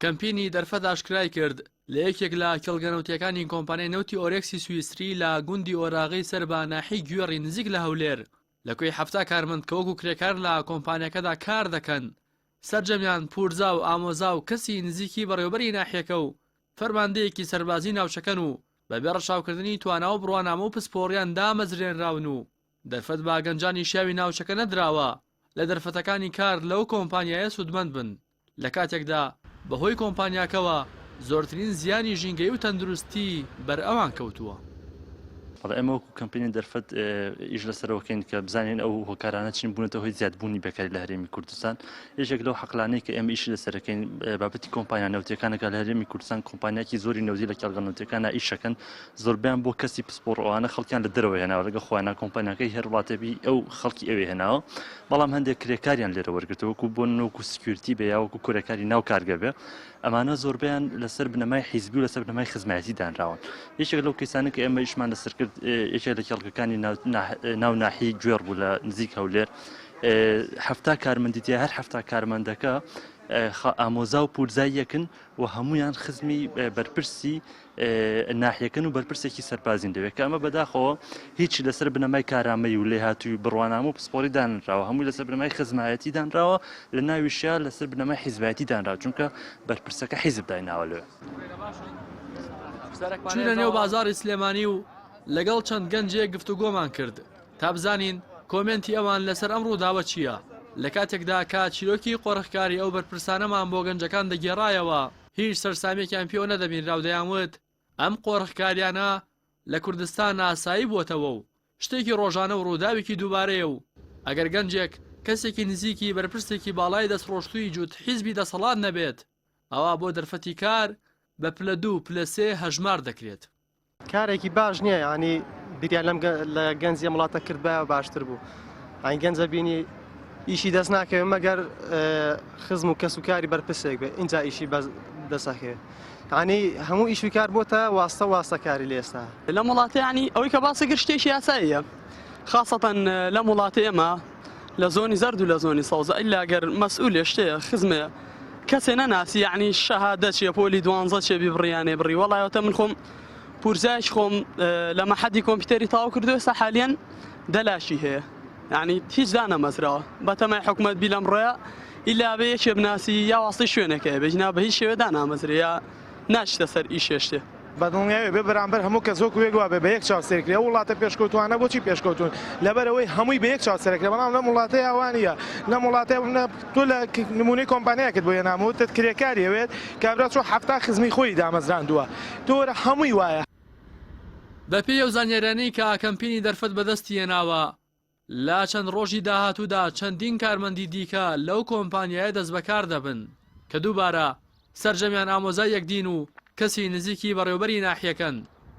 کەمپینی دەرفەت ئاشکرایکرد، لە یەکێک لە کێڵگە نەوتییەکانی کۆمپانیای نەوتی ئۆرێکسی سویسری لە گوندی ئۆراغی سەر بە ناحیەی گوێڕی نزیک لە هەولێر، لە کوێی حەفتا کارمەند کە وەکو کرێکار لە کۆمپانیاکەدا کار دەکەن، سەرجەمیان پورزا و ئامۆزا و کەسی نزیکی بەڕێوەبەری ناحیەکە و فەرماندەیەکی سەربازی ناوچەکەن و بەبێ ڕەچاوکردنی توانا و بڕوانامە و پسپۆڕیان دامەزرێنراون و دەرفەت بە گەنجانی شیاوی ناوچەکە نەدراوە لە دەرفەتەکانی کار لەو کۆمپانیایە سوودمەند بن، لە کاتێکدا بەهۆی کۆمپانیاکەوە زۆرترین زیانی ژینگەیی و تەندروستی بەر ئەوان کەوتووە. بەڵام ئێمە وەکو کەمپینی دەرفەت ئیش لەسەرەوە کەین کە بزانین ئەو هۆکارانە چین بوونەتە هۆی زیادبوونی بێکاری لە هەرێمی کوردستان. یەکێک لەو حەقلانەی کە ئێمە ئیشی لەسەرەکەین بابەتی کۆمپانیا نەوتیەکانەکە لە هەرێمی کوردستان کۆمپانیاکی زۆری نەوتی لە کێڵگە نەوتیەکانە ئیش ئەکەن زۆربەیان بۆ کەسی پسپۆڕ ئەوانە خەڵکیان لە دەرەوە هێناوە لەگە خۆیان نا کۆمپانیاکەی هەر وڵاتێبی ئەو خەڵکی ئەوێ هێناوە بەڵام هەندێک کرێکاریان لێرە وەرگرتەوەکو بۆ نۆک و سکیورتی بێ یاوەکو کورەکاری ناو کارگە بێ ئەمانە زۆربیان لەسەر بنەمای حیزبی و لەسەر بنەمای خزمایەتی دانراون یەکێک لەو کەسانە کە ئێمە ئیشمان لەسەر کرد یەکێک لە کێڵگەکانی ناو ناحی گوێڕ بوو لە نزیک هەولێر هەفتا کارمەندی تیا هەر هەفتا کارمەندەکە ئامۆزا و پورزای یەکن و هەمویان خزمی بەرپرسی ناحیەکەن و بەرپرسێکی سەرپازین دەوێت کە ئەمە بەداخەوە هیچی لەسەر بنەمای کارامەی و لێهاتووی بڕوانامە و پسپۆری دانراوە هەمووی لەسەر بنەمای خزمایەتی دانراوە لە ناویشیا لەسەر بنەمای حیزبایەتی دانرا چونکە بەرپرسەکە حیزب دایناوە لێ چونە نێو بازاری سلێمانی و لەگەڵ چەند گەنجێک گفتوگۆمان کرد تا بزانین کۆمنتی ئەوان لەسەر ئەم ڕووداوە چییە لە کاتێکدا کا چیرۆکی قۆرخکاری ئەو بەرپرسانەمان بۆ گەنجەکان دەگێڕایەوە هیچ سەرسامیەکیان پێوە نەدەبینراو دەیان وت ئەم قۆرخکاریانە لە کوردستان ئاسایی بوەتەوە و شتێکی ڕۆژانە و ڕووداوێکی دووبارەیە و ئەگەر گەنجێک کەسێکی نزیکی بەرپرسێکی باڵای دەستڕۆشتووی جووت حیزبی دەسەڵات نەبێت ئەوا بۆ دەرفەتی کار بە پلە دوو پلە سێ هەژمار دەکرێت. کارێکی باش نییە ینی بیریان لەم لە گەنجی ئەم وڵاتە کردبایە باشتر بوو ئەین گەنجە بینی ئیشی دەست ناکەوێت مەگەر خزم و کەس و کاری بەرپرسێک بێ اینجا ئیشی بەس دەسەکەوێت ینی هەموو ئیشی کار بۆتە واستە واستەکاری لە ئێستا لەم وڵاتەیانی ئەوەی کە باسەکە شتێکی یاساییە خاصەتەن لەم وڵاتی ئێمە لە زۆنی زەرد و لە زۆنی سەوزە ئیلا گەر مەسئولێ شتێ خزمێ کەسێ نەناسی یعنی شەهادە چێ پۆلی دوانزە چێ بی بڕیانێ بڕی وەڵایەتە من خۆم پورزایش خۆم لە مەحەدی کۆمپیوتەری تاو کردو ئێستا حالیەن دەلاشی هەیە یعنی هیچ دانەمەزراوە بەتەمای حکوومەت بی لەم ڕۆیە ئیلا بێ یەکێ بناسی یا واستەی شوێنەکەی بێژنا بە هیچ شێوێدا نامەزرێ یا ناشتە سەر ئیشێشتێ بەدڵنیایەوە بێ بەرامبەر هەموو کەس وەکو یەک وابێ بە یەک چاوسێر کرێ ئەو وڵاتە پێشکەوتوانە بۆچی پێشکەوتون لەبەر ئەوەی هەمووی بە یەک چاوسێرە کرێ بەڵام لەم وڵاتەیا وا نیە لەم وڵاتەیا ببنە تۆ لە نمونەی کۆمپانیایەکت بۆ هێنام وتت کرێکاری ئەوێت کابرا چۆ حەفتا خزمی خۆی دامەزراندووە تۆ وەرە هەمووی وایە. بەپێی ئەو زانیاریانەی کە ئاکەمپینی دەرفەت بەدەستی هێناوە، لە چەند ڕۆژی داهاتوودا چەندین کارمەندی دیکە لەو کۆمپانیایە دەستبەکار دەبن، کە دووبارە سەرجەمیان ئامۆزای یەکدین و کەسی نزیکی بەڕێوەبەری ناحیەکەن،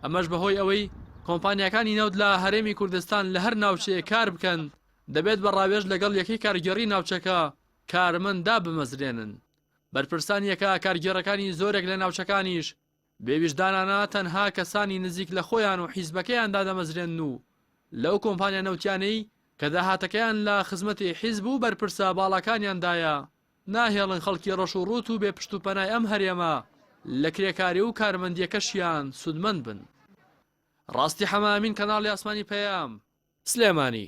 ئەمەش بەهۆی ئەوەی کۆمپانیاکانی نەوت لە هەرێمی کوردستان لە هەر ناوچەیەک کاربکەن دەبێت بە ڕاوێژ لەگەڵ یەکەی کارگێڕی ناوچەکە کارمەند دابمەزرێنن بەرپرسان یەکە کارگێڕەکانی زۆرێک لە ناوچەکانیش بێویژدانانە تەنها کەسانی نزیک لە خۆیان و حیزبەکەیان دادەمەزرێنن و لەو کۆمپانیا نەوتیانەی کە داهاتەکەیان لە خزمەتی حیزب و بەرپرسە باڵاکانیاندایە، ناهێڵن خەڵکی ڕەش و ڕووت و بێ پشت و پەنای ئەم هەرێمە لە کرێکاری و کارمەندیەکەشیان سوودمەند بن. ڕاستی حەمە ئەمین کەناڵی ئاسمانی پەیام سلێمانی.